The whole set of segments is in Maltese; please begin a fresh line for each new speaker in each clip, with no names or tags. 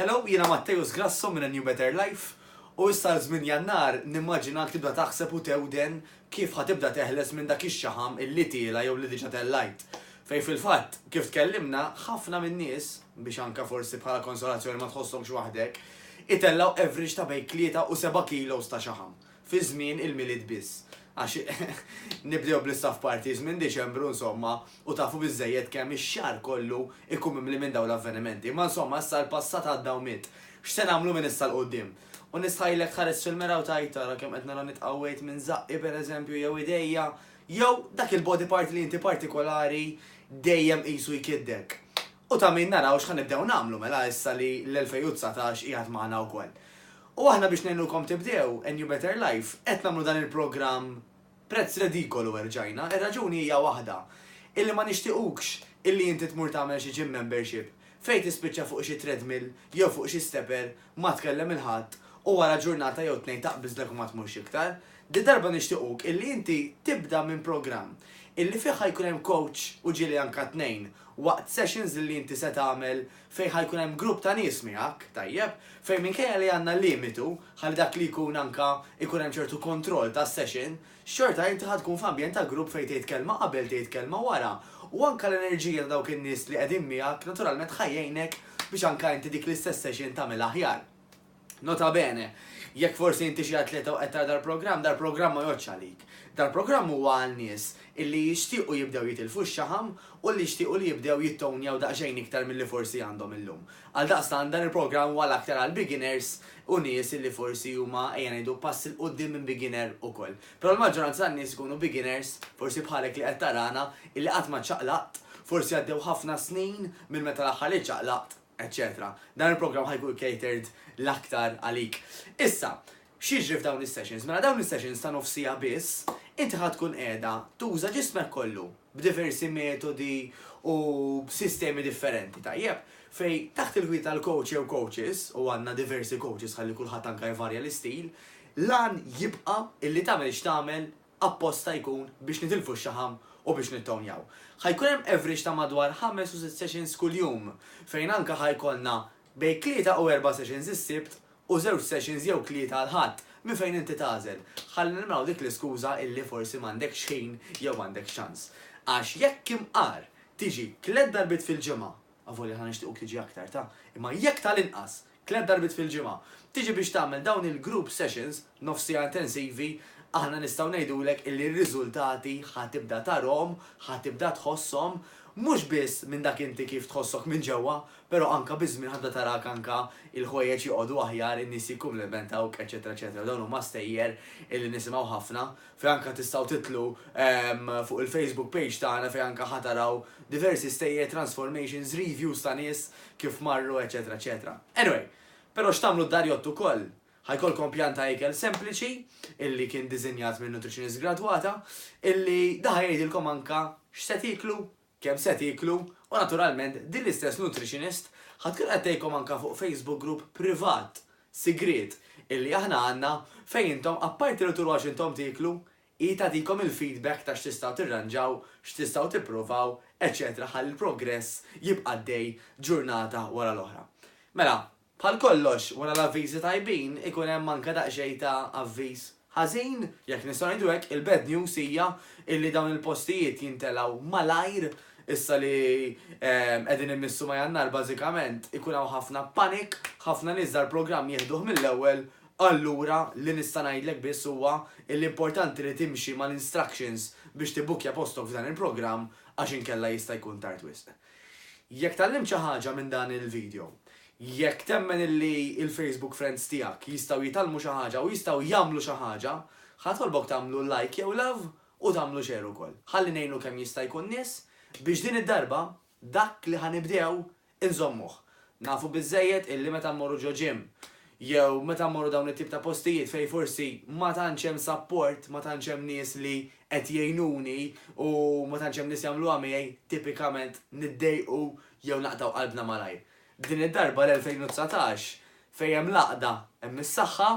Hello, jiena Matteus Grasso minn A New Better Life, u issa għal żmien Jannar nimmaġinak tibda taħseb u tewden kif ħa tibda teħles minn dak ix-xaħam illi tiela' jew li diġa' tellajt. Fejn fil-fatt, kif tkellimna, ħafna min-nies, biex anka forsi bħala konsolazzjoni ma tħossokx waħdek, itellgħu average ta' bejn tlieta u seba' kilos ta' xaħam. fi żmien il-Milied biss, għax nibdew bl-istaff parties minn Diċembru insomma u tafu biżżejjed kemm ix-xahar kollu jkun mimli minn dawn l-avvenimenti. Imma insomma issa l-passat għadda u miet. X'se nagħmlu minn issa 'l quddiem? U nistħajlek tħares fil-mera u tgħid, ara kemm qed nara nitqawwejt minn żaqqi pereżempju jew idejja, jew dak il-body part li inti partikolari dejjem qisu jkiddek. U ta' min naraw x'ħa nibdew nagħmlu mela issa li l-2019 qiegħed magħna wkoll. U aħna biex ngħinukom tibdew a new better life qed nagħmlu dan il-programm prezz redikolu erġajna, ir-raġuni hija waħda, illi ma nixtiequkx illi inti tmur tagħmel xi gym membership fejn tispiċċa fuq xi treadmill jew fuq xi stepper, ma tkellem il-ħadd u wara ġurnata jew tnejn taqbiżlek u ma tmurx iktar. Dil-darba nixtiequk illi inti tibda minn programm illi fih ħa jkun hemm coach u ġieli anka tnejn waqt sessions illi inti se tagħmel Fejn ħa jkun hemm grupp ta' nies miegħek, tajjeb, fejn minkejja li għandna limitu, ħalli dak li jkun anke jkun hemm ċertu kontroll tas-session, xorta inti ħa tkun f'ambjent ta' grupp fejn tgħid kelma qabel, tgħid kelma wara, u anke l-enerġija ta' dawk in-nies li qegħdin miegħek naturalment ħa jgħinek biex anke inti dik l-istess session tagħmilha aħjar. Nota bene, jekk forsi inti xi atleta u qed tara dal-programm, dal-programm ma jgħoddx għalik. Dal-programm huwa għal nies illi jixtiequ jibdew jitilfu x-xaħam u li jixtiequ li jibdew jittownjaw daqsxejn iktar milli forsi għandhom illum. Għaldaqstant dan il-programm huwa l-aktar għal beginners u nies illi forsi huma ejja ngħidu pass 'il quddiem minn beginner ukoll. Però l-maġġoranza tan-nies ikunu beginners, forsi bħalek li qed tarana, illi qatt ma ċċaqlaqt, forsi għaddew ħafna snin minn meta l-aħħar li ċċaqlaqt, eċċetera Dan il-programm ħa jkun catered l-aktar għalik. Issa, x'jiġri f'dawn is-sessions? Mela dawn is-sessions ta' nofs siegħa biss, inti ħa tkun qiegħda tuża ġismek kollu b'diversi metodi u b'sistemi differenti, tajjeb? Fejn taħt il-gwida tal-coach jew coaches, u għandna diversi coaches ħalli kulħadd anke jvarja l-istil, l-għan jibqa' illi tagħmel x'tagħmel apposta jkun biex nitilfu x-xaħam u biex nittownjaw. Ħa jkun hemm average ta' madwar ħames u sitt sessions kuljum, fejn anke ħa jkollna bejn tlieta u erba' sessions is-Sibt u żewġ sessions jew tlieta l-Ħadd, minn fejn inti tagħżel. Ħa neliminaw dik l-iskuża illi forsi m'għandekx ħin jew m'għandekx ċans. Għax jekk imqar tiġi tliet darbiet fil-ġimgħa Avolja aħna nixtiequk tiġi aktar ta', imma jekk tal-inqas, tliet darbiet fil-ġimgħa, tiġi biex tagħmel dawn il-group sessions, nofs siegħa intensivi, aħna nistgħu ngħidulek illi r-riżultati ħa tibda tarahom, ħa tibda tħosshom, mhux biss minn dak inti kif tħossok minn ġewwa, però anke biż-żmien ħa tibda tarak anke il-ħwejjeġ joqogħdu aħjar, in-nies jikkumplimentawk, eċċetera eċċetera. Dawn huma stejjer illi nisimgħu ħafna fejn anke tistgħu tidħlu fuq il-Facebook page tagħna fejn anke ħa taraw diversi stejjer, transformations, reviews ta' nies kif marru eċetera eċetera. Anyway, però x'tagħmlu d-darjott ukoll? Ħa jkollkom pjan ta' ikel sempliċi illi kien diżinjat minn nutritionist gradwata illi da ħa jgħidilkom anke x'se tieklu kemm se tieklu u naturalment din l-istess nutritionist ħa tkun qed tgħidkom anke fuq Facebook group privat, sigriet, illi aħna għandna fejn intom apparti li turuha x'intom tieklu, hi tagħtikom il-feedback ta' x'tistgħu tirranġaw, x'tistgħu tipprovaw, eċċetera ħalli l-progress jibqa' għaddej ġurnata wara l-oħra. Mela, Bħal kollox, wara l-avviżi tajbin ikun hemm anke daqsxejn ta' avviż ħażin, jekk nistgħu ngħidu hekk, il-bad news hija illi dawn il-postijiet jintelgħu malajr, issa li qegħdin immissu ma' Jannar bażikament ikun hawn ħafna panic, ħafna nies dal-programm jieħduh mill-ewwel, allura li nista' ngħidlek biss huwa illi importanti li timxi mal-instructions biex tibbukkja postok f'dan il-programm għax inkella jista' jkun tard wisq. Jekk tgħallimt xi ħaġa minn dan il-video, jekk temmen illi il-Facebook friends tiegħek jistgħu jitgħallmu xi ħaġa u jistgħu jagħmlu xi ħaġa, ħa nitolbok tagħmlu like jew love u tagħmlu share ukoll. Ħalli ngħinu kemm jista' jkun nies biex din id-darba dak li ħa nibdew inżommuh. Nafu biżżejjed illi meta mmorru ġo gym jew meta mmorru dawn it-tip ta' postijiet fejn forsi ma tantx hemm sapport, ma tantx hemm nies li qed jgħinuni u ma tantx hemm nies jagħmluha miegħi, tipikament niddejqu jew naqtgħu qalbna malajr. Din id-darba l-2019 fejn hemm l-għaqda hemm is-saħħa,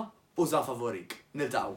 użha favorik. Niltaqgħu.